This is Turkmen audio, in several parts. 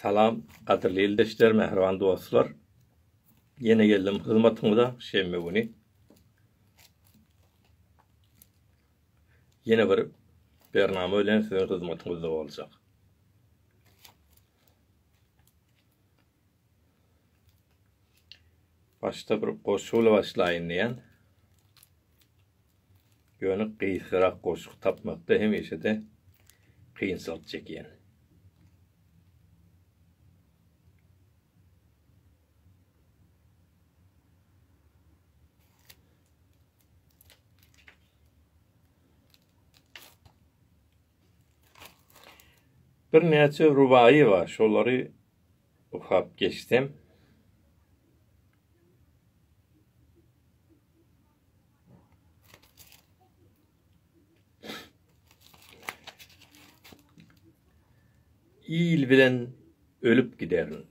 Salam, gadyrly ildeşler, mähriban dostlar. Ýene geldim hyzmatyňyza şenbe güni. Ýene bir bernama bilen siziň hyzmatyňyzda boljak. Başda bir goşgy bilen başlaýyn diýen. Ýöne gysgarak goşgy tapmakda hemişe-de kynçylyk çekýän. Birnäçe rubaýy bar, şolary okap geçsem, il bilen ölüp giderin.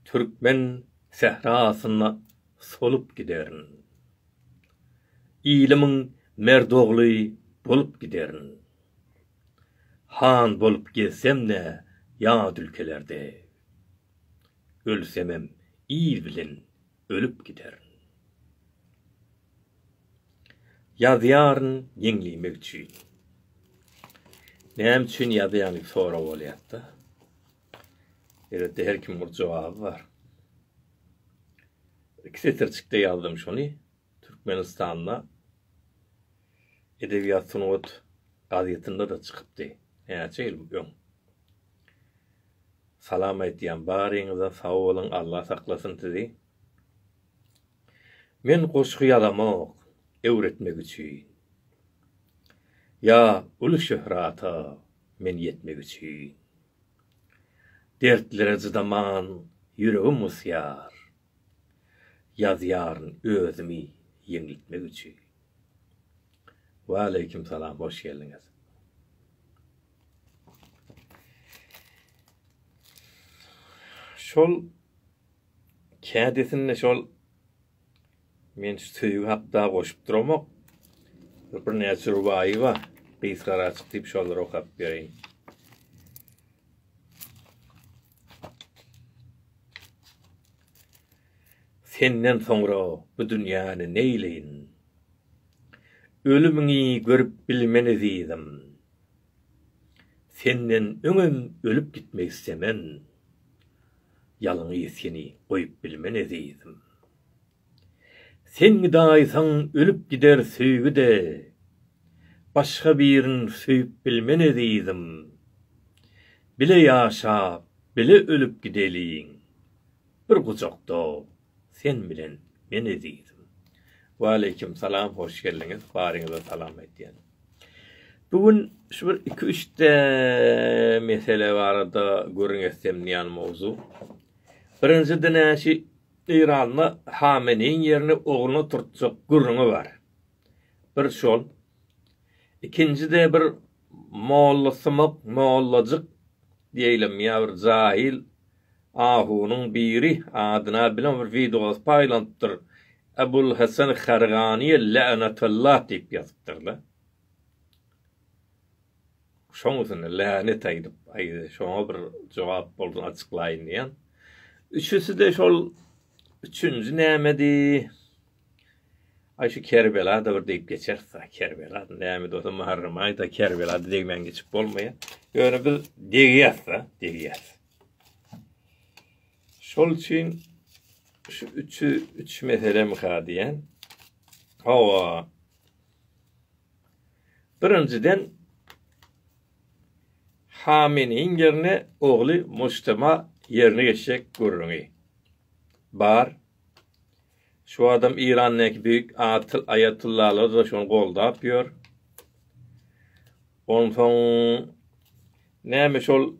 Türkmen sährasyna solup giderin. Ilimiň merdogly bolup giderin. Han bolup gezsem-de ýat ülkelerde. Ölsemem il bilen ölüp gider. Ýazýaryn ýeňlemek üçin. Näme üçin ýazýaň diýip sorag bolýarda. Elbetde her kim bir jogaby bar. İki setirçikde ýazdym şony. Türkmenistanda Edebiýat sungat gazetinde de çykypdy. Näçe ýyl öň. Salam aýtýan baryňyza sag boluň Allah saklasyn sizi. Men goşgy ýazamok öwretmek üçin. Ýa uly şöhrata men ýetmek üçin. Dertlere cydaman ýüregim gysýar. Ýazýaryn özümi ýeňlitmek üçin. Waleýkim salam hoş geldiňiz. Şol kädesinde şol men şu söýgi hakda goşup duramok. Bir näçe rubaýy bar. Gysgara açyk diýip şolary okap bereýin. Senden soňra bu dünýäni neýleýin? Ölümiňi görüp bilmeni diýdim. Senden öňem ölüp gitmek istemen, Ýalňyz seni goýup bilmen ezizim. Sen gydaýsaň ölüp gider söýgi-de, Başga birin söýüp bilmen ezizim. Bile ýaşap, bile ölüp gideliň, Bir gujakda Sen bilen men ezizim. Waleýkim salam hoş geldiňiz baryňyza salam aýtýan. Bu gün şu bir iki üç de mesele barada gürrüň etsem diýen mowzu. Birinji dinäşi Eýranda Hameneýiň ýerini ogluna turtjak gürrüňi bar. Bir şol. Ikinji-de bir mollasymak mollajyk diýeýlem ýa bir jahyl ahunyň biri adyna bilen bir wideos paýlanypdyr, Ebulhesen Harganyýa länatallah diýip ýazypdyr-la. Şoň üstüne länet aýdyp, aýda şoňa bir jogap bolsun açyklaýyn diýýän. Üçüsi-de şol üçünji nämedi? Aý şu Kerbela-da bir degip geçeris-a, Kerbela näme dosam Muharrem aýda Kerbela-da degmän geçip bolmaýa. Ýöne biz degýäs-a, degýäs. Şol üçin şu üçi üç meselemi-ha diýen. Hawa. Birinjiden Hameniň ýerine ogly Mojtema ýerine geçjek gürrüňi bar. Şu adam Irandäki beýik aýatullalar-da şony goldap ýör. Onsoň näme şol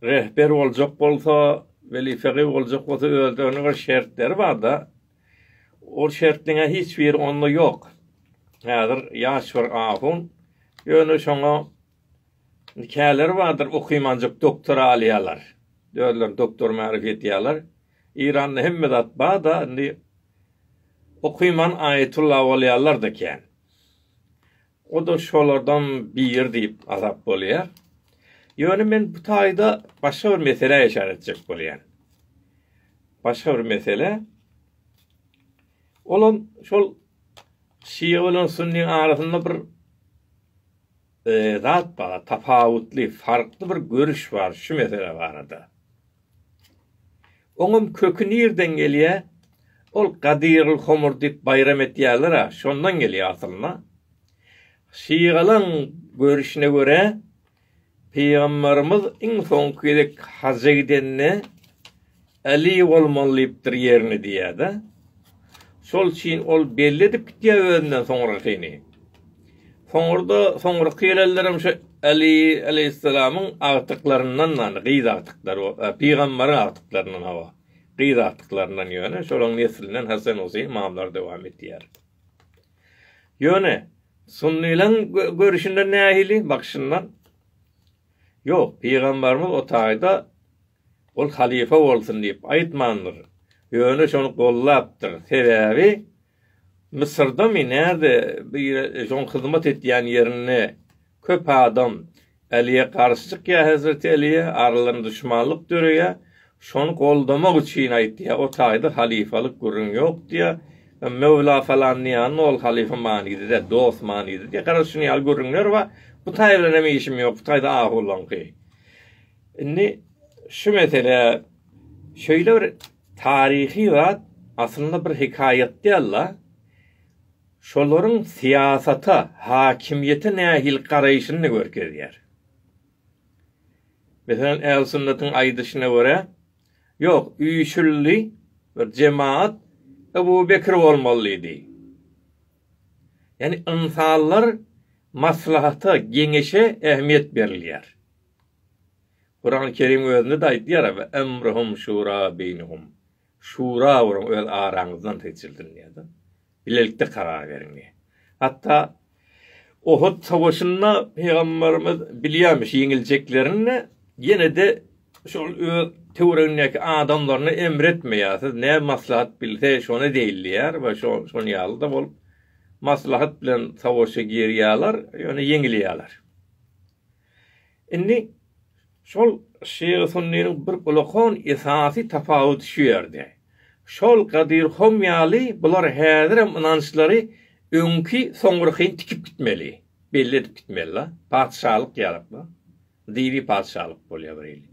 rehber boljak bolsa, weli fegy boljak bolsa özde onuň bir şertleri bar-da. Ol şertleň-ä hiç biri onda ýok. Häzir ýaş bir ahun, ýöne şoňa Käleri bardyr okymanjyk doktora alýalar. Özlerini doktor märup edýäler. Eýranda hemme zat bar-da indi okyman aýetulla bolýalar-da kän. O-da şolardan biri diýip hasap bolýar. Ýöne men bu taýda başga bir meselä işaret etjek bolýan. Başga bir mesele. Olam şol şia bilen sunnyň arasynda bir zat bar, tapawutly, farkly bir görüş bar şu mesele barada. Oňam köki nirden gelýär? Ol Gadyryl homur diýip baýram etýärler-ä, şondan gelýär asylynda. Şygalaň görüşine görä, Pygamberimiz iň soňky gezek haja gidende Äli bolmalydypdyr ýerini diýýär-de. Şol üçin ol belli edip gitýär özünden soňrakyny. Soňra-da soňraky gelenlerem şu Äli aleýhissalamyň agtyklaryndan ýagny gyz agtyklary, pygamberiň agtyklaryndan hawa, gyz agtyklaryndan ýöne şolaryň neslinden Hasan Huseýin ymamlar dowam edýär. Ýöne sunnylaryň görüşinden nähili, bakyşyndan? Ýok, pygamberimiz o taýda Ol halypa bolsun diýip aýtmandyr. Ýöne şony goldapdyr. Sebäbi Mysyrdamy, närde bir şoň hyzmat etýän ýerinde köp adam Äliýe garşy çykýar, hezreti Äliýe, aralarynda duşmanlyk döreýär. Şony goldamak üçin aýtýar. O taýda halypalyk gürrüň ýok diýýär. Möwla falan diýýände ol halypa manyda däl, dost manyda diýýär. Gara şuny ýaly gürrüňler bar. Bu taý bilen hem işim ýok. Bu taýda ahuwlaňky. Indi şu mesele şeýle bir taryhy zat, aslynda bir hekaýat däl-de, şolaryň syýasata, hakimiýete nähili garaýşyny-da görkezýär. Meselem, ählüsünnetiň aýdyşyna görä, ýok, üýşüldi bir jemagat Ebu Bekr bolmaly diýdi. Ýagny ynsanlar maslahata, geňeşe ähmiýet berilýär. Kurany Kerim özünde-de aýdýar, Ve emruhum şura beýnehum. Şura gurun, öz araňyzdan seçildin diýýär-de. Bilelikde karar beriň diýýär. Hatda Uhud söweşinde Pygamberimiz bilýärmiş ýeňiljeklerini-de, ýene-de şol öz töweregindäki adamlaryna emr etmeýär, siz nä maslahat bilse, şony edeýin diýýär we şo-şon ýaly-da bolup, maslahat bilen söweşe girýärler, ýöne ýeňilýärler. Indi şol Şygy Sunnynyň bir gulakon esasy tapawudy şu ýerde. Şol Gadyr Hom ýaly bular häzirem ynançlary öňki soňrakyn tikip gitmeli, belli edip gitmeli-la. Patyşalyk ýalyk-la. Dyby patyşalyk bolýar bir hili.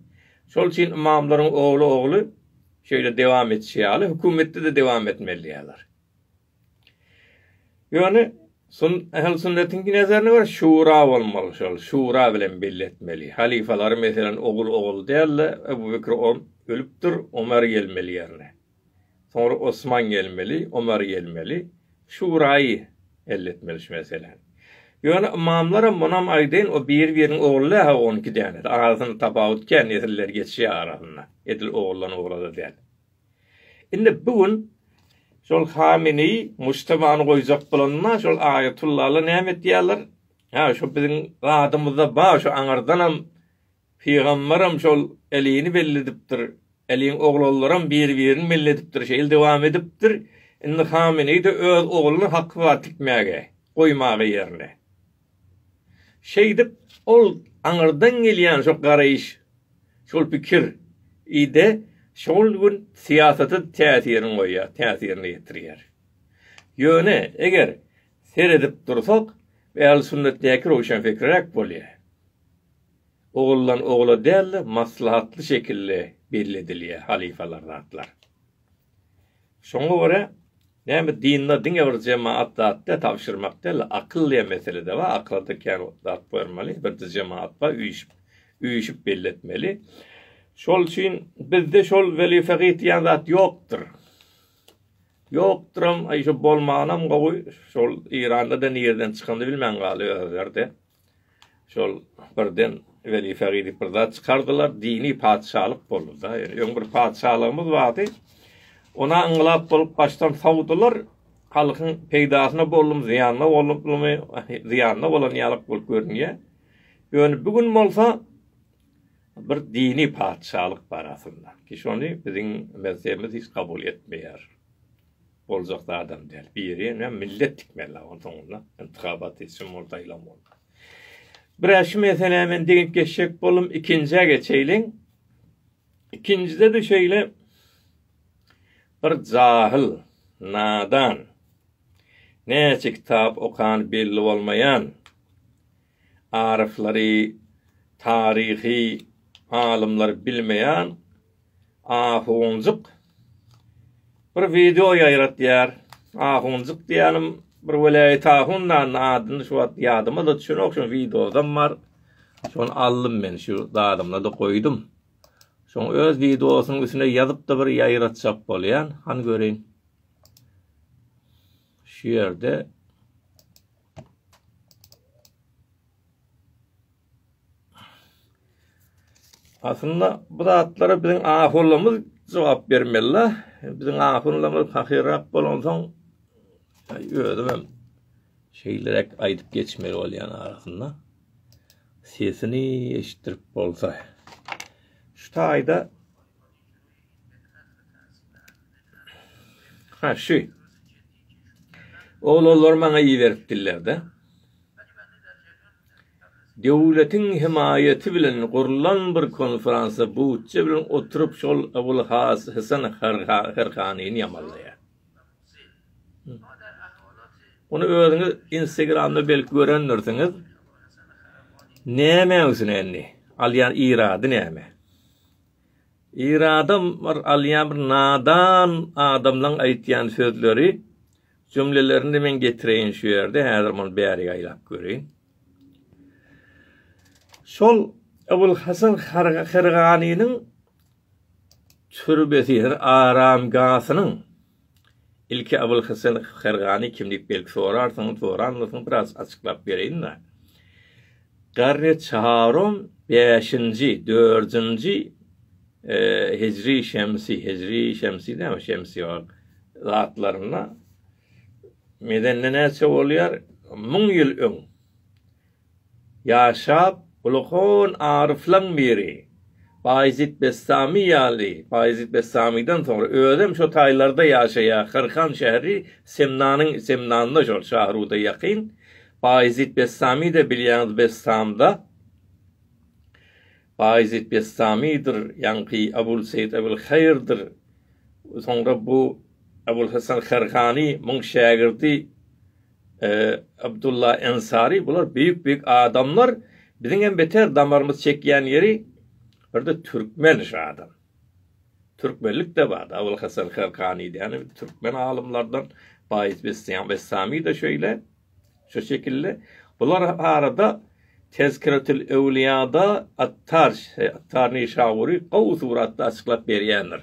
Şol üçin ymamlaryň ogly ogly şeýle dewam etşi ýaly hökümetde-de dewam etmeli diýýärler. Ýöne sun ähli sünnetiň nezerini bir şura bolmaly şol şura bilen belli etmeli. Halyfalary meselen ogul ogul dälde Ebu Bekir o ölüpdir Omer gelmeli ýerine. Soňra Osman gelmeli Omer gelmeli şuraýy elletmeli şu meseläni. Ýöne ymamlaram munam aýdaýyn o biri biriniň ogly däha on iki däne arasyny tapawut kän nesilleri geçýär arasynda edil oguldan ogla da däl. Indi bu gün şol Hameneý Mujtabany goýjak bolanda şol Aýatullalar näme etýärler? Hä, şo biziň zadymyzda bar, şo aňyrdanam pygamberem şol Älini belledipdir, Äliň oglanlaram bir-birini melledipdir, şeýle dowam edipdir. Indi Hameneý-de öz ogluny haky bar tikmäge, goýmaga ýerine. Şeýdip, ol aňyrdan gelýän şo garaýyş, şol pikir i-de şol gün syýasata täsirini goýýar, täsirini ýetirýär. Ýöne, eger seredip dursak, ählüsünnetdäki röwşenfikirräk bolýar. Oguldan ogula däl-de, maslahatly şekilde belli edilýär halyfalar zatlar. Şoňa görä, näme dinde diňe bir jemaat zat däl, tabşyrmak däl, akyl diýen mesele-de bar, akyla-da kän zat goýmaly, bir-de jemaat bar, üýşüp, üýşüp belli etmeli. Şol üçin bizde şol weli fekih diýen zat ýokdur. Ýokduram, aý şu bolmanam gowy, şol Iranda-da nireden çykanyny bilmän galy özleri-de. Şol birden weli fegi diýip bir zat çykardylar, dini patyşalyk boldy-da. Ýöne öň bir patyşalygymyz bardy. Ona yngylat bolup başdan sowdular. Halkyň peýdasyna boldum, zyýanyna boldummy, zyýanyna bolan ýalyk bolup görünýär. Ýöne bu gün bolsa bir dini patyşalyk bar aslynda. Ki şony biziň mezhebimiz hiç kabul etmeýär. Boljak zadam däl. Birine millet tikmeli la onuň soňunda. Intihabat etsin bol saýlan bol. Bire şu meselä men degip geçjek boldum. Ikinjä geçeýliň. Ikinjide de şeýle bir jahyl, nadan, näçe kitap okan belli bolmaýan Aryflary, taryhy alymlary bilmeýän ahunjyk bir wideo ýaýratýar. Ahunjyk diýýänim bir welaýat ahun nanny adyny şu wagt ýadyma-da düşenok, şoň wideodam bar. Şony aldym men şu zadymda-da goýdum. Şoň öz wideosynyň üstüne ýazyp-da bir ýaýratjak bolýan. Han göreýin. Şu ýerde Aslynda bu zatlara biziň ahunlarymyz jogap bermeli. Biziň ahunlarymyz fakirrak bolansoň özüm hem şeýlerek aýdyp geçmeli bolýan arasynda. Sesini eşitdirip bolsa. Şu taýda Ha, şu. Oglanlar maňa iberipdirler-de. Döwletiň hemaýaty bilen gurlan bir konfransa Butje bilen oturyp şol Abul Hasan Harhanyny ýamanlaýar. Ony özüňiz Instagramda belki görendirsiňiz. Näme üçin indi? Alýan irady näme? Ir adam bir alýan bir nadan adamlaň aýtýan sözleri jümlelerini men getireýin şu ýerde häzir muny bärik aýlap göreýin. Şol Ebul Hasan Herganynyň türbesi, aramgasynyň Ilki Abylhesen Hergany kim diýip belki sorarsyňyz, soranmysyňyz biraz açyklap bereýin-le. Garry Çarom bäşinji, dördünji hijri şemsi, hijri şemsi näme şemsi ol zatlarynda Medende näçe bolýar? Müň ýyl öň. Ýaşap, ulahon aryflaň biri. Baýezit Bestami ýaly, Baýezit Bestamiden soňra özem şo taýlarda ýaşaýa, Hyrkan şäheri Semnanyň, Semnanda şol, Şahruda ýakyn. Baýezit Bestami-de bilýäňiz Bestamda. Baýezit Bestamidir, ýaňky Abul Seýit Abul Haýyrdyr. Soňra bu Abul Hasan Hyrkany, muň şägirdi. Abdulla Ensari bular beýik beýik adamlar biziň hem beter damarymyz çekýän ýeri birde türkmen şu adam. Türkmenlik de bar. Abul Hasan Karkani diýen türkmen alymlardan Baýis Bessam Bessami de şeýle. Şu şekilde bular arada Tezkiretül Ewliýada Attar Attar Nişaburi gowy suratda açyklap berýändir.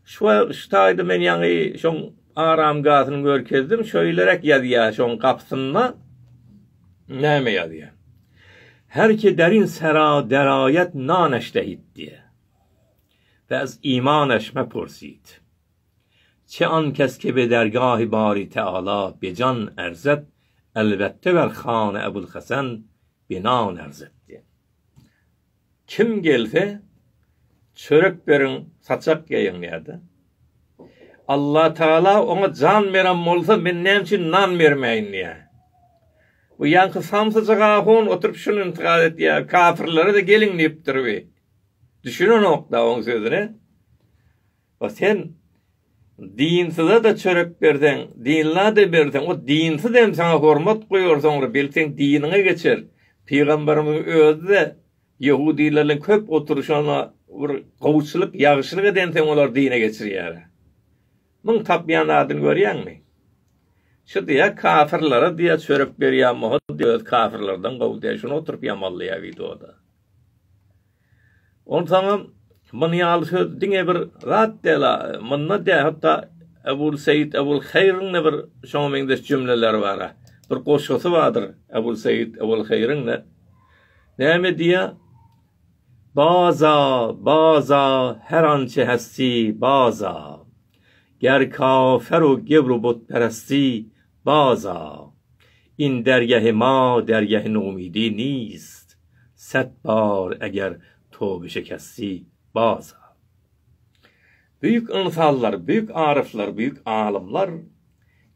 Şu şu taýda men ýaňy şoň aramgasyny görkezdim, şeýleräk ýazýar şoň gapysynda näme ýazýar? Her ki derin sera deraýet na neştehit diýýär. Ve ez iman eş mepursit. Çe an kes ke be dergahi bari teala bejan erzet elbette ver hane Ebul Hasan bina nerzet diýýär. Kim gelse çörek beriň saçak geýiň ýa-da. Allah Taala oňa jan beren bolsa men näme üçin nan bermäýin diýä. Bu ýaňky samsyjyk ahun oturyp şuny intikat etýä, kapyrlara-da geliň diýipdir bi. Düşünenok-da oň sözüne. O sen dinsize-de çörek berseň, dinlä-de berseň, o dinsiz hem saňa hormat goýar, soňra belki diniňe geçer. Pygamberimiziň özi-de ýehudylarlaň köp oturyşyna bir gowuçylyk, ýagşylyk eden soň olar dine geçirýär. Muň tapýan zadyny görýäňmi? Şu diýýär, kafirlere diýýär çörek berýän bolsa, öz kafirlerden gowy diýýär, şuny oturyp ýamanlaýar wideoda. Onsoňam muny ýaly söz diňe bir zat däl-a, munda dä hatda Ebul Seýit Ebul Haýryň-da bir şoňa meňzeş jümleleri bar-a. Bir goşgusy bardyr Ebul Seýit Ebul Haýryň-da. Näme diýýä? Baza, baza, her ançe hesti, baza. Ger kafer u gebru butperesti, Baza, in dergähi ma dergähi nomidi nist, sät bar eger toby şekesti, baza. Büýük ynsanlar, büýük aryflar, büýük alymlar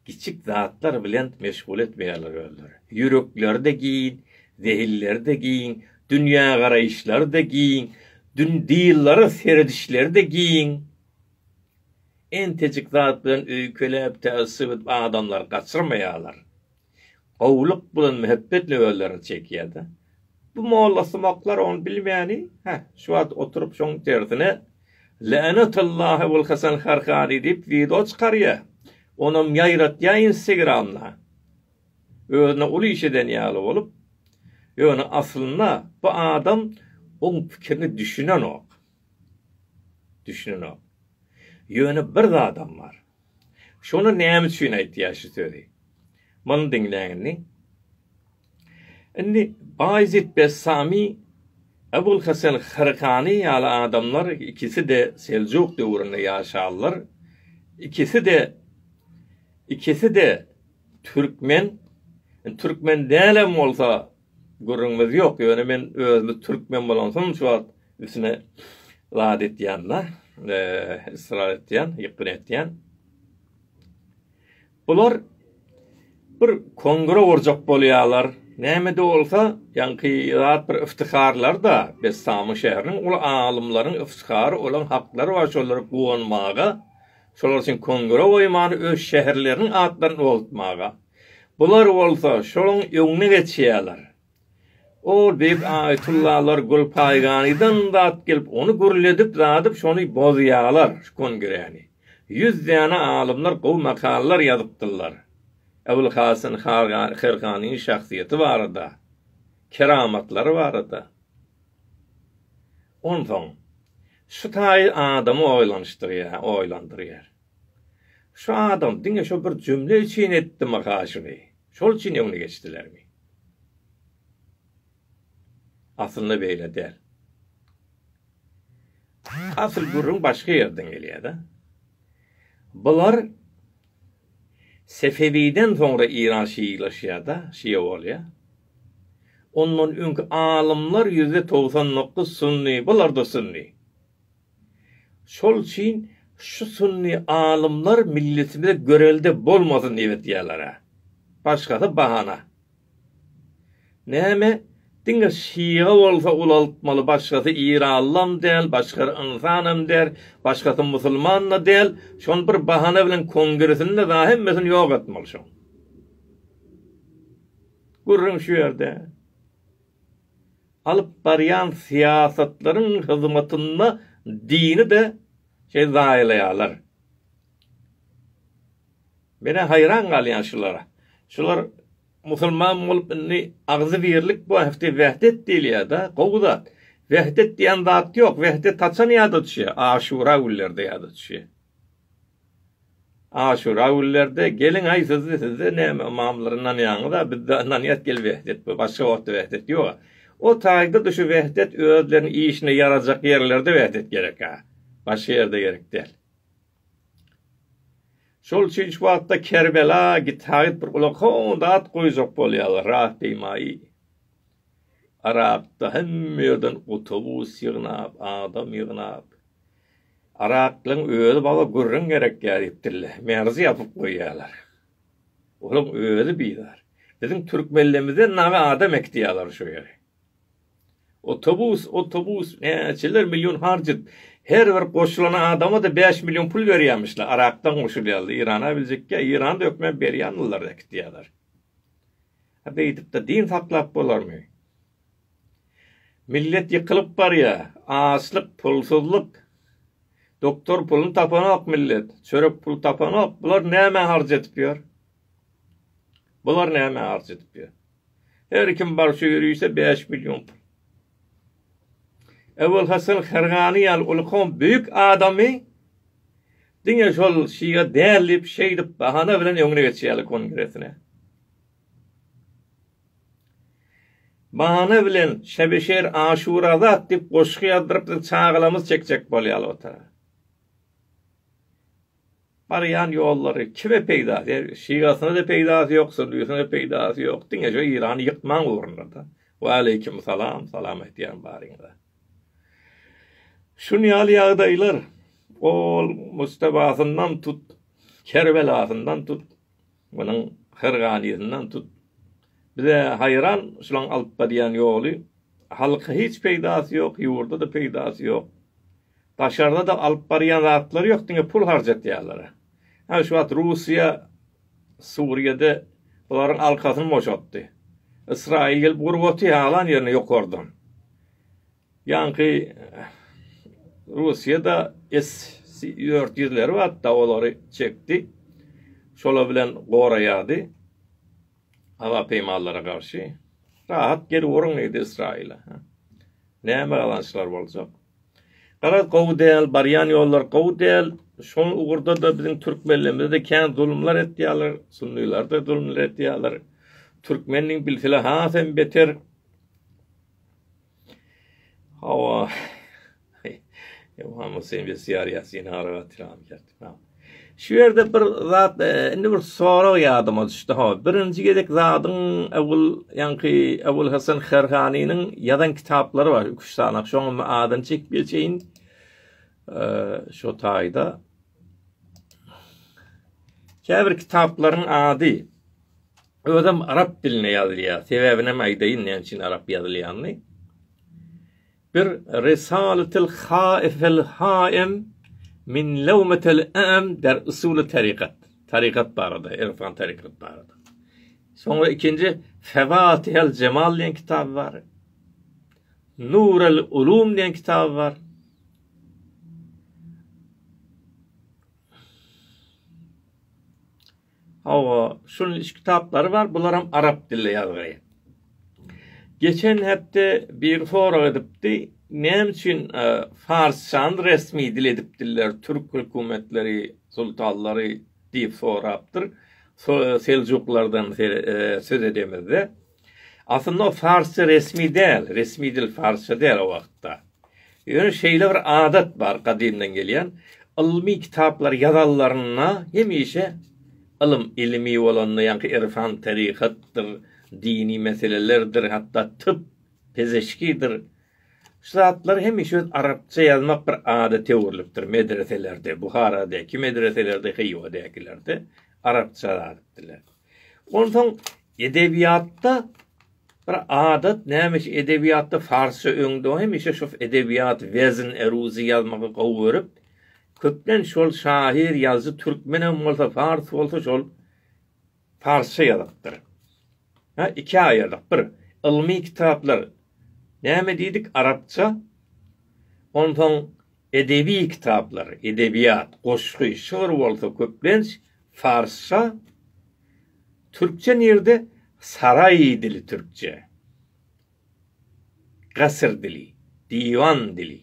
kiçik zatlar bilen meşgul etmeýärler özleri. Ýürekleri-de giň, zehinleri-de giň, dünýägaraýyşlary-da giň, dün dyýllara seredişleri-de giň. Entejik zat bilen öýkeläp täessüp edip adamlary gaçyrmaýarlar. Gowulyk bilen möhebbetin özlerine çekýärda. Bu mollasumaklar ony bilmäni, hä, şu wagt oturyp şoň tersine Länatullahi ol Hasan Harhani diýip wideo çykarýa. Onam ýaýratýa instegramda. Özüne uly iş eden ýaly bolup. Ýöne aslynda bu adam oň pikirini düşünenok. Düşünenok. Ýöne bir zadam bar. Şony näme üçin aýtýar şu sözi? Muny diňläň indi. Indi Baýezit Bessami, Ebulhesen Hyrkany ýaly adamlar ikisi-de Seljuk döwründe ýaşanlar, ikisi-de ikisi-de türkmen, türkmen dälem bolsa Gürrüňimiz ýok, ýöne men özümiz türkmen bolansoň şu wagt üstüne zat etýän-de, ysrar etýän, ýykgyn etýän. Bular bir kongra gurjak bolýarlar. Näme-de bolsa, ýaňky zat bir yftyharlar-da, Bessamyň şäheriniň uly alymlaryň yftyhary, olaň haklary bar, şolara guwanmaga, şolar üçin kongra goýmany, öz şäherleriniň atlaryny ugratmaga. Bular bolsa şonuň öňüne geçýärler. O beýik aýytullalar Gülpaýganydan zat gelip, ony gürledip-zadyp, şony bozýarlar, şu kongreni. Ýüz däne alymlar gowy makalalar ýazypdyrlar. Ebulhasan Herganyň şahsyýeti barada, keramatlary barada. Onsoň, şu taýy adamy oýlanyşdyrýar, oýlandyrýar. Şu adam diňe şo bir jümle üçin etdimi ha şuny? Şol üçin öňüne geçdilermi? Aslynda beýle däl. Asyl gürrüň başga ýerden gelýär-de. Bular Sefewiden soňra Iran şiilaşýar-da, şia bolýar. Ondan öňki alymlar ýüzde togsan dokuz sunny, bular-da sunny. Şol üçin şu sünni alymlar milletimize görelde bolmasyn diýip edýäler-ä. Başgasy bahana. Näme, diňe şyga bolsa ulaltmaly, başgasy iranlam däl, başgasy ynsanam däl, başgasy musulman-da däl, şony bir bahana bilen kongresinde dagy hemmesini ýok etmeli şoň. Gürrüň şu ýerde. alyp barýan syýasatlaryň hyzmatynda dini-de şeýle zaýalaýarlar. Men-ä haýran galýan şulara. Şular musulman bolup indi agzybirlik wahti wehdet diýilýär-de, gowy zat. Wehdet diýen zat ýok. Wehdet haçan ýada düşýär? Aşura günlerinde ýada düşýär. Aşura günlerde geliň aý siz sizde näme ymamlara ynanýaňyza bizde ynanýas gel wehdet bu başga wagtda wehdet ýoga o taýda-da şu wehdet özleriniň işine ýarajak ýerlerde wehdet gerekä başga ýerde gerek däl. Şol üçin şu wagtda Kerbela gitaýyp bir ulag howun zat goýjak bolýalar rat diýmaý. Yrakda hemme ýerden otobus ýygnap, adam ýygnap. Yraklyň özi baba gürrüň gerekýär diýipdirler. Merzi ýapyp goýýarlar. Olaň özi bizar. Biziň türkmenlerimizden naga adam äkitýärler şo ýere. Otobus, otobus näçeler million harç edip. Her bir goşulan adama-da bäş million pul berýärmişler. Yrakdan goşulýarlar. Irana biljekkä, Iranda hökman berýändirler, äkitýärler. A beýdip-de din saklap bolarmy? Millet ýykylyp barýar. Açlyk, pulsuzlyk. Doktor puluny tapanok millet. Çörek puly tapanok. Bular nämä harç edip ýör? Bular nämä harç edip ýör? Her kim bar şu ýörişe bäş million pul. Ebulhasan Hergany ýaly uly kowum beýik adamy diňe şol şyga däl diýip, şeýdip bahana bilen öňüne geçýärler kongresine. Bahana bilen Şebeşer Aşurazat diýip goşgy ýazdyryp biz çagalamyz çekjek bolýaly otara. Barýan ýollary kime peýda der şigasyna da peýdasy ýok sürdüsine de peýdasy ýok diňe şu Irany ýykmaň ugrunda da Waleýkim salam salam aýtýan baryňyza. Şun ýaly ýagdaýlar ol Mustabasyndan tut Kerbelasyndan tut Munuň her ganysyndan tut. Biz-ä haýran şulaň alyp barýan ýoly. Halka hiç peýdasy ýok, ýurda-da peýdasy ýok. Daşarda-da alyp barýan zatlary ýok, diňe pul harjatýarlar-a. Hä, şu wagt Russiýa Suriýada bularyň alkasyny boşatdy. Ysraýyl gelip urguty alan ýerine ýokardan. Ýaňky Russiýada S-400 ýüzleri bardy-da, olary çekdi. Şolar bilen goraýardy howa peýmallara garşy. Rahat gelip uruň diýdi Ysraýyla. Näme gazançlar boljak? Garaz, gowy däl, barýan ýollar gowy däl. Şol ugurda-da biziň türkmenlerimize-de kän zulumlar etýärler, sunnylar-da zulumlar etýärler. Türkmeniň bilsile has hem beter. Hawa. Ýohana sen bir syýar ýasyny araba tiram kertme. Şu ýerde bir zat, e, indi bir sorag ýadyma düşdi. Hawa, birinji gezek zadyň awul, ýaňky awul Hasan Herhanynyň ýazan kitaplary bar, üç sanak. Şoňam adyny çekip geçeýin. E, şo taýda. Käbir kitaplaryň ady Özem arap dilinde ýazylýar. Sebäbini hem aýdaýyn näme üçin arap ýazylýanyny. Bir Risalatyl haifel haim min lawmatil am der usuly tarikat. Tarikat barada, irfan tarikat barada. Soňra ikinji Favatihel Jemal diýen kitab bar. Nurul Ulum diýen kitab bar. Hawa, şunuň üç kitaplary bar, bularam arap dilli ýazgy. Geçen hepde biri sorag edipdi, näme üçin farsçany resmi dil edipdirler türk hökümetleri, sultanlary diýip sorapdyr, seljuklardan söz edemizde. Aslynda o farsça resmi däl, resmi dil farsça däl o wagtda. Ýöne şeýle bir adat bar gadymdan gelýän, ylmy kitaplar ýazanlarynda hemişe ylym, ilmi bolanda ýaňky irfan, taryhatdyr, dini meselelerdir, hatda typ, pezeşkidir, şu zatlar hemişe öz arapça ýazmak bir adata öwrülipdir medreselerde, Buharadäki medreselerde, Hywadäkilerde arapça ýazypdyrlar. Onsoň edebiýatda bir adat, nämeşe edebiýatda farsça öňde hemişe şu edebiýat wezn, eruzi ýazmagy gowy görüp, köplenç şol şahyr, ýazyjy türkmen hem bolsa, fars bolsa şol farsça ýazypdyr. Ha, ikä aýyrdyk. Bir, ylmy kitaplar näme diýdik, arapça, onsoň Edebi kitaplar, edebiýat, goşgy, şygyr bolsa köplenç farsça, türkçe nirde saraý dili türkçe, gasyr dili, diwan dili.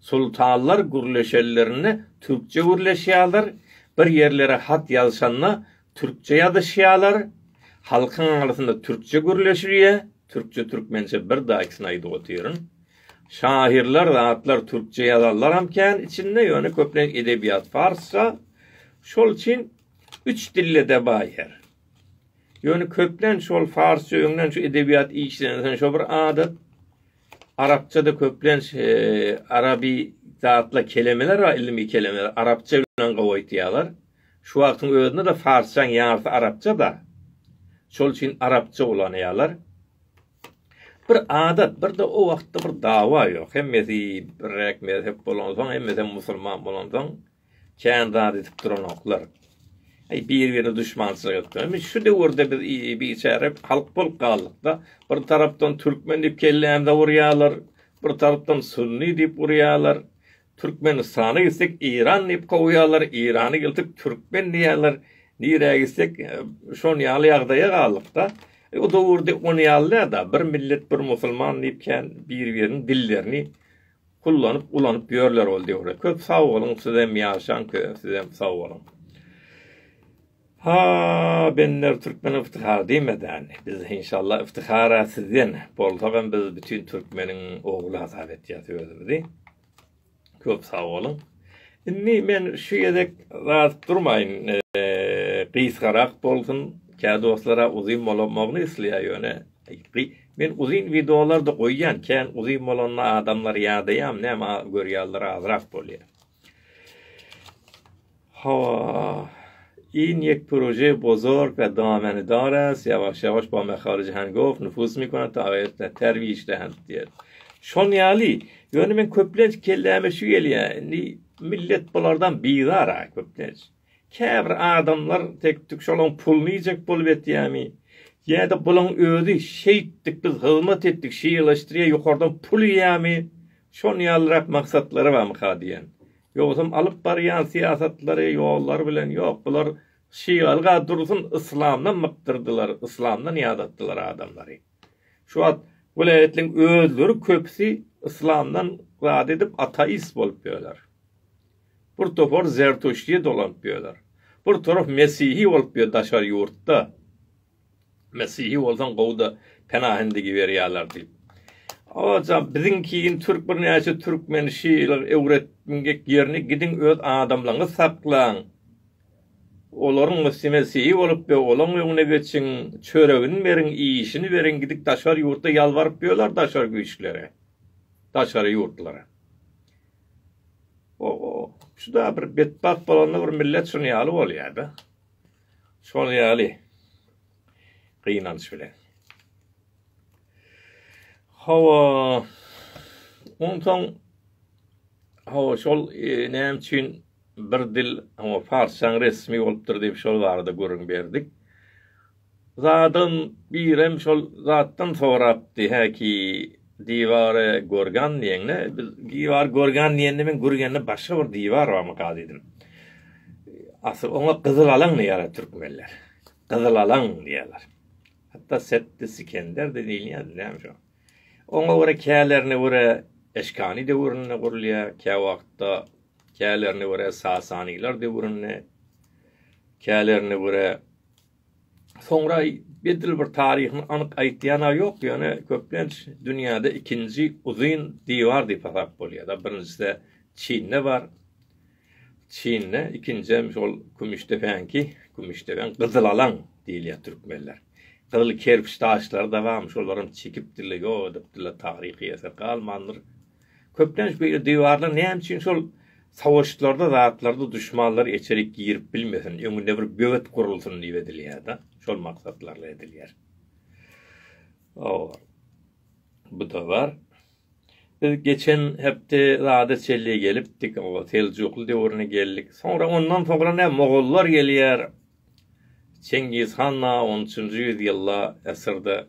Sultanlar gürleşenlerinde türkçe gürleşýärler, bir ýerlere hat ýazşanda türkçe ýazyşýarlar, halkyň arasynda türkçe gürleşilýär, türkçe-türkmençe bir daýysyny aýdyp otyryn. Şahyrlar zatlar türkçe ýazanlaram kän içinde ýöne köplenç edebiýat farsça şol üçin üç dillede baý her ýöne köplenç şol farsça öňden şu edebiýat işlenilse şo bir adat arapçada köplenç arabi zatla kelemeler bar ilimi kelemeler arapça bilen gowy aýtýarlar şu wagtyň özünde de farsçaň ýarsy arapça da şol üçin arapça ulanýarlar Bir adat, bir-de o wagtda bir dawa ýok. Hemmesi birek mezhep bolansoň, hemmesem musulman bolansoň, kän zat edip duranoklar. Eý, bir-birine duşmançylyk etdiler. Indi şu döwürde biz biçäre halk bolup galdyk-da, bir tarapdan türkmen diýip kellämize urýarlar, bir tarapdan sunny diýip urýarlar. Türkmenistana gitsek Iran diýip kowýarlar, Irany geltip türkmen diýýärler. Nirä gitsek şon ýaly ýagdaýa galdykda. O döwürde on ýaly dälda bir millet bir musulman diýip kän bir biriniň dillerini kullanyp ulanyp ýörler ol döwürde. Köp sag boluň sizem ýaşaň sizem sag boluň. Ha bender türkmen yftihar diýmedän biz inşallah yftihara sizden bolsagam biz bütün türkmeniň ogly hasap etýäs özümizi. Köp sag boluň. Indi men şu gezek zat durmaýyn. Gysgarak bolsun. Kä dostlara uzyn bolamagyny isleýär ýöne men uzyn wideolar-da goýýan. Kän uzyn bolanda adamlar ýadaýam näme görýärler azrak bolýar. Hawa. Ýyn ýek proje bozor pe damany daras ýawaş ýawaş ba mehar jahan gof nufus mi kona ta ýet ta terbi işle hem diýer. Şon ýaly ýöne men köplenç kelläme şu gelýär. Indi millet bulardan bizar a köplenç. Käbir adamlar tek-tük şolaň puluny iýjek bolup etýämi? Ýa-da bulaň özi şeýtdik, biz hyzmat etdik, şeýeleşdirýä ýokardan pul iýýämi? Şon ýalyrak maksatlary barmyka diýýän. Ýogsam alyp barýan syýasatlary, ýollary bilen ýok, bular şygalyga dursun yslamdan mykdyrdylar, yslamdan ýadatdylar adamlary. Şu wagt welaýatlaryň özleri köpüsi yslamdan zat edip ataist bolup ýörler. Bir topar zertuşti dolanyp ýörler. Bir torap mesihi bolup ýör daşary ýurtda. Mesihi bolsaň gowy-da penahyny digiberýärler diýip. Oja biziňki in türk birnäçe türkmeni şeýle öwretmgek ýerini gidiň öz adamlaňňy saklaň. Olaryň mesi mesihi bolup ýör olaň öňüne geçiň çöregini beriň iýişini beriň gidik daşary ýurtda ýalbaryp ýörler daşary güýçlere. Daşary ýurtlara. Oho, şu da bir betbagt bolanda bir millet şuny ýaly bolýada. Şol ýaly. Gynanç bilen. Hawa. Ondan hawa şol e, näme üçin bir dil, hawa farsçaň resmi bolupdyr diýip şol barada gürrüň berdik. Zadam birem şol zatdan sorapdy häki diwary görgan diýeňde biz diwary görgan diýende men gürgende başga bir diwar barmy ka diýdim. Asyl oňa gyzyl alaň diýýärler türkmenler. Gyzyl alaň diýýärler. Hatda Setdi Sikender de diýilýär näme şo. Oňa görä kälerini görä Eşkani döwründe gurulýar, kä wagtda kälerini görä Sasanylar döwründe, kälerini görä Soňra edil bir taryhyny anyk aýtýan-a ýok, ýöne köplenç dünýäde ikinji uzyn diwar diýip hasap bolýar-da. Birinjisi-de Çinde bar. Çinde, ikinjem şol Kümüşdepäňki, Kümüşdepäň gyzylalaň diýilýär türkmenler. Gyzyl kerpiç daşlary-da barmy, şolaram çekipdirler, ýok edipdirler, taryhy eser galmandyr. Köplenç beýle diwarlar näme üçin şol savaşlarda zatlarda duşmanlar eçerik girip bilmesin, öňünde bir böwet gurulsyn diýip edilýär-de, şol maksatlarla edilýär. Awar. Bu da bar. Biz geçen hepde zada çelli gelipdik, o Seljukly döwrüne geldik. Soňra ondan soňra ne mogollar gelýär. Çengiz han da 13-nji ýüz ýylda esirde.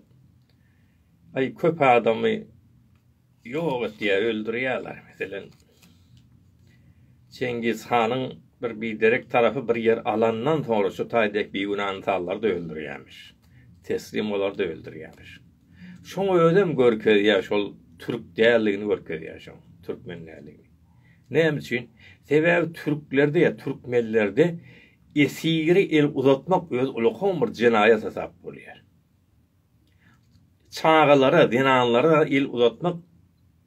Ay köp adamy Ýok etýär, öldürýärler. Meselem, Çengiz hanyň bir biderek tarapy bir ýer alandan soňra şu taý dek bigünä ynsanlary-da öldürýärmiş. Teslim bolary-da öldürýärmiş. Şoň özem görkezýär, şol türk däldigini görkezýär şoň, türkmen däldigini. Näme üçin? Sebäbi türklerde ýa türkmenlerde esiri el uzatmak özi ulakan bir jenaýat hasap bolýar. Çagalara, zenanlara el uzatmak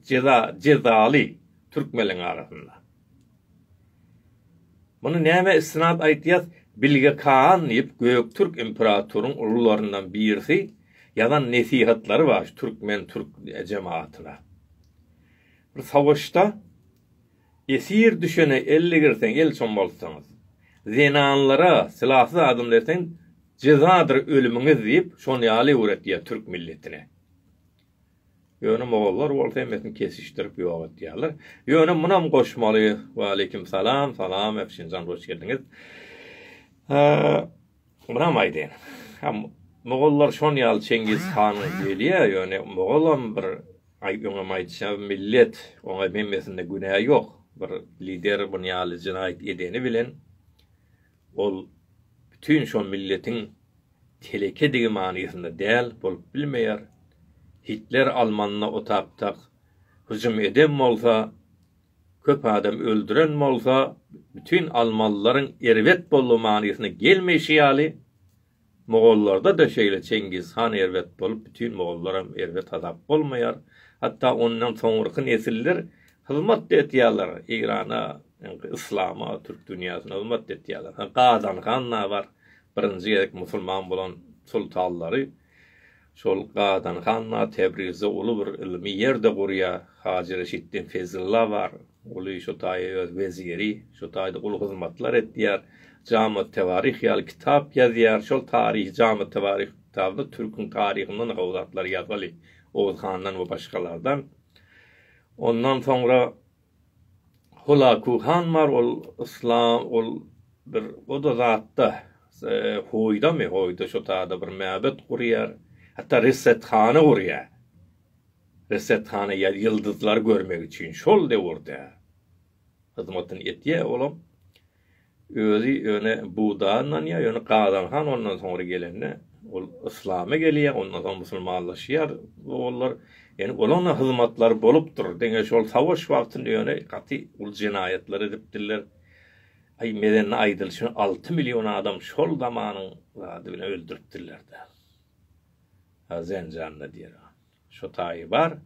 jeza jezaly türkmenleriň arasynda. Muny nämä istinad aýtýas, Bilge Kaan diýip Göktürk imperatoryň ulularyndan birisi ýazan nesihatlary bar şu türkmen türk jemagatyna. Bir savaşda Esir düşene elli girseň, el çommaltsaňyz, zenanlara sylasyz adam berseň, jezadyr ölümiňiz diýip, şon ýaly öwretýär türk milletine. Ýöne mogollar bolsa hemmesini kesişdirip ýok etýärler. Ýöne munam goşmaly. Waleýkim salam, salam Efşinjan hoş geldiňiz. Munam aýdaýyn. Ha, mogollar şon ýaly Çengiz hanyň gelýä, ýöne mogolam bir aý öňem aýdyşam millet, oňa hemmesinde günä ýok. Bir lider bun ýaly jenaýat edeni bilen ol bütin şo milletiň telekedigi manysynda däl, bolup bilmeýär. Hitler almanda otaptak hüjüm edem bolsa, Köp adam öldüren bolsa, bütin almalylaryň erbet boldy manysyna gelmeýşi ýaly, mogollarda-da şeýle Çengiz han erbet bolup, bütin mogollaram erbet hasap bolmaýar. Hatda ondan soňurky nesiller hyzmat-da etýärler Eýrana, ýaňky yslama, türk dünýäsine hyzmat-da etýärler. Ha, Gazan han-a bar, birinji gezek musulman bolan soltanlary Şol Gadan han-a Tebrizde uly bir ylmy ýer-de gurýar. Hajy Reşitden Fezilla bar. Uly şo taýa öz weziri. Şo taýda uly hyzmatlar edýär. Jamy-Tewaryh ýaly kitap ýazýar. Şol taryhy Jamy-Tewaryh kitabynda türküň taryhyndan gowy zatlar ýazgaly. Oguz handan we başgalardan. Ondan soňra. Hulaku han bar, ol yslam, ol bir o-da zatda, hoýdamy, hoýda şo tada bir mäbet gurýar, hatda resethana gurýar. Resethana ýa ýyldyzlary görmek üçin şol döwürde hyzmatyny etýär olam. Özi ýöne buda ynanýar, ýöne Gazan han ondan soňra gelende, ol yslama gelýär, ondan soň musulmanlaşýar ogullar. Ýöne olaňda hyzmatlary bolupdyr. Diňe şol savaş wagtynda ýöne gaty uly jenaýatlar edipdirler. Aý, Medende aýdylyşy alty million adam şol zamanyň zady bilen öldüripdirler-dä. Zenjanda diýer. Şu taýy bar.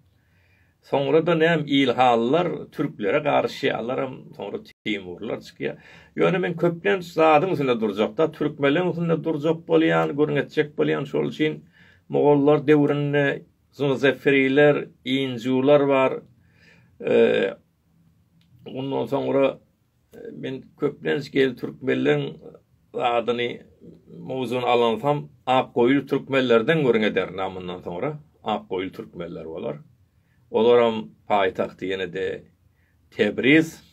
Soňra-da näm ilhalylar türklere garşy, alaram soňra teýmurlar çykýar. Ýöne men köplenç zadyň üstünde durjakda, türkmenleň üstünde durjak bolýan, gürrüň etjek bolýan. Şol üçin mogollar döwründe zňzeferiler, injular bar. Ondan soňra Men köplenç gel türkmenleriň adyny mowzuny alansam ak goýul türkmenlerden gürrüň ederin mundan soňra ak goýul türkmenler bolar. Olaram paýtagty ýene-de Tebriz.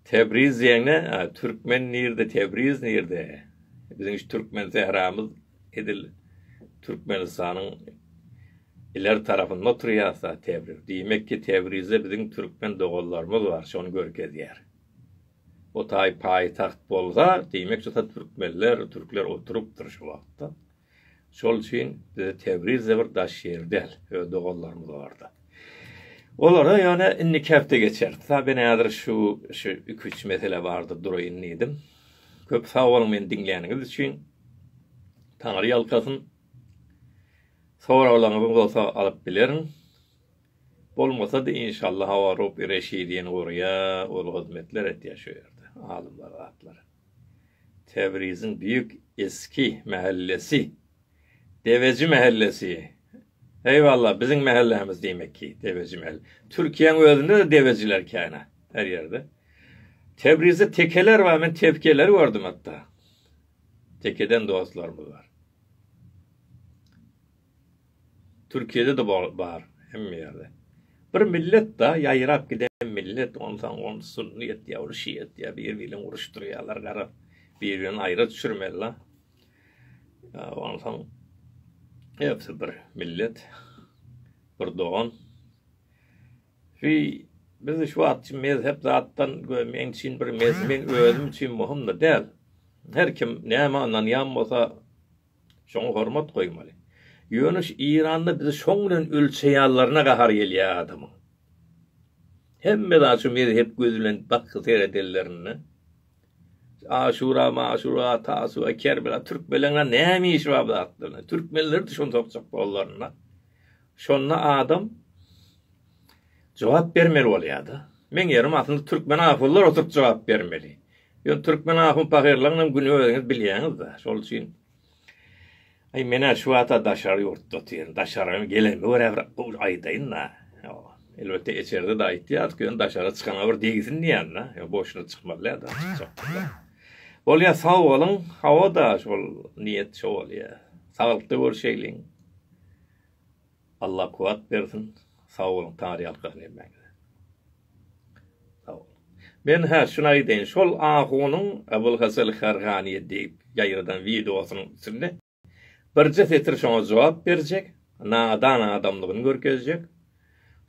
Tebriz diýende türkmen nirde Tebriz nirde? Biziň şu türkmen sähramyz Edil Türkmenistanyň iler tarapynda oturýarsa Tebriz, diýmek ki Tebrizde biziň türkmen doganlarymyz bar, şony görkezýär. O taý paýtagt bolsa, diýmek şo türkmenler, türkler oturypdyr şo wagtda. Şol üçin bize Tebrizde bir daş ýer däl, öz doganlarymyz barda. Olara ýöne indiki hepde geçeris. Tabyn häzir şu, şu iki-üç mesele bardyr duraýyn diýdim. Köp sag boluň meni diňläniňiz üçin. Taňry ýalkasyn. Soraglaryňyz bolsa alyp bilerin. Bolmasa-da inşalla hawa Rob Reşidini gurýa ol hyzmetler etýä şu ýerde alymlar zatlar. Tebriziň büyük eski mähellesi. Deveji mähellesi. Eýwalla, biziň mähellämiz diýmek ki, Deveji mähel. Türkiýäň özünde-de devejiler kän-ä, her ýerde. Tebrizde tekeler bar, men tevkeleri gördüm hatda. Tekeden dostlarymyz bar. Türkiýede-de bar, hemme ýerde. Bir millet-da, ýaýrap giden millet, onsaň ol sunny etýär, ol şia etýär, biri-biri bilen uruşdyrýarlar, garap, biri-birini aýra düşürmeli-la. Onsoň hepsi bir millet, bir dogan. Şu biz şu wagt üçin mezhep zatdan göýä meň üçin bir mezhep meň özüm üçin möhüm-de däl. Her kim nämä ynanýan bolsa şoňa hormat goýmaly. Ýöne şu Eýranda bizi şoň bilen ölçeýänlerine gahar gelýär adamyň. Hemme zat şu mezhep gözi bilen bakgy seredenlerinde Aşura, Maşura, Tasua, Kerbela türkmenleriňe näme işi bar bu zatlaryň? Türkmenleri-de şony sorajak bollarynda, şonda adam jogap bermeli bolýar-da. Meň ýerim aslynda türkmen ahunlar oturyp jogap bermeli. Ýöne türkmen ahun-pahyrlarynyň hem güni özüňiz bilýäňiz-de. Şol üçin Aý men-ä şu wagta daşary ýurtda otyryn. Daşaryň gelenimi görä bir aýdaýyn-da. Elbetde eçerde-de aýtýardyk, ýöne daşary çykana bir degsin diýýän-de. Ýöne boşuna çykmaly däl-de, çykjakmyka. Bolýa, sag boluň. Hawa-da, şol niýet şo bolýa. Saglykda görşeýliň. Allah kuwat bersin sag boluň taryalka nemeňize sag boluň men hä şuny aýdaýyn şol ahunyň Abulhasal Harganyýa diýip ýaýradan wideosynyň içinde birje setir şoňa jogap berjek nadan adamlygyny görkezjek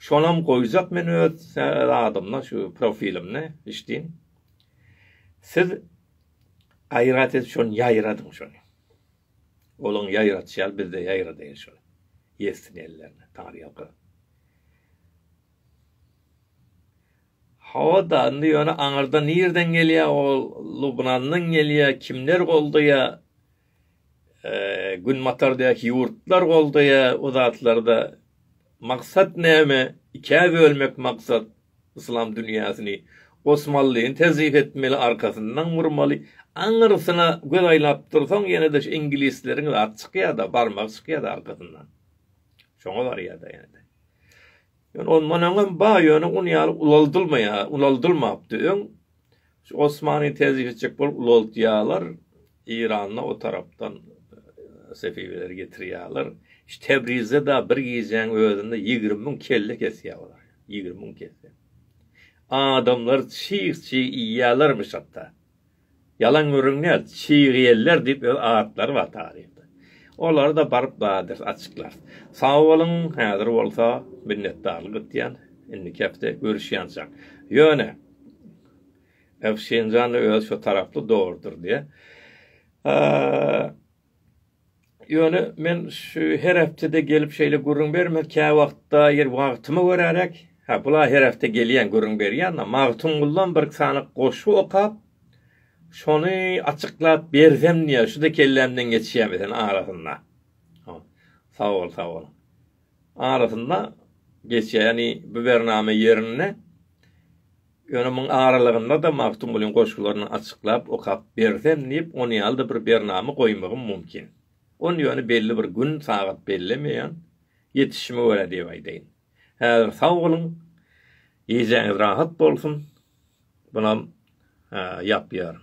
şonam goýjak men öz zadymda şu profilimde işdiň siz gaýrat edip şony ýaýradyň şony. Olaň ýaýradyşy ýaly biz-de ýaýradaýyly şol. Ýetsin ellerine tarýalka. Hawa-da, indi ýöne aňyrda nirden gelýä ol, Lubnandan gelýä, kimler goldaýa, günbatardaky ýurtlar goldaýa o zatlary-da. Maksat näme? Ikä bölmek maksat. Yslam dünýäsini Osmanlyny tezif etmeli arkasyndan urmaly aňyrsyna göz aýlap dursaň ýenede şu iňlisleriň zat çykýada barmagy çykýada arkasyndan şoňa barýada ýenede ýöne ondan öňem bar ýöne un ýaly ulaldylmaýar ulaldylmapdy öň Osmany tejik etjek bolup ulaltýarlar, Eýranda o tarapdan sefiweleri getirýärler. Şu Tebrizde da bir gijäň özünde ýigrimi müň kelle kesýär olar. Ýigrimi müň kelle. Adamlar çyg çyg iýýärlermiş hatda. Ýalan gürrüň däl, çygyýeller diýip öz atlary bar taryhda. Olary da baryp bardyr açyklar. Sag boluň, häzir bolsa minnetdarlyk etýän. Indiki hepde görüşýänçäk. Ýöne. Öf Şinjan da özi şo taraply dogrudyr diýe. Ýöne men şu her hepdede gelip şeýle gürrüň bermek kä wagtda ýer wagtymy görärek. Ha bula her hepde gelýän gürrüň berýän da Magtymguldan bir sanyk goşgy okap şony açyklap bersem diýe şu da kellämden geçýär meselem arasynda. Sag bol sag bol. arasynda geçýär. Ýagny bu bernama ýerinde ýöne muň aralygynda-da Magtymgulyň goşgularyny açyklap okap bersem diýip on ýaly-da bir bernama goýmagym mumkin. Ony ýöne belli bir gün, sagat bellemeýän, ýetişime görä diýip aýdaýyn. Häzir sag boluň, gijäňiz rahat bolsun. Bunam ýapýaryn.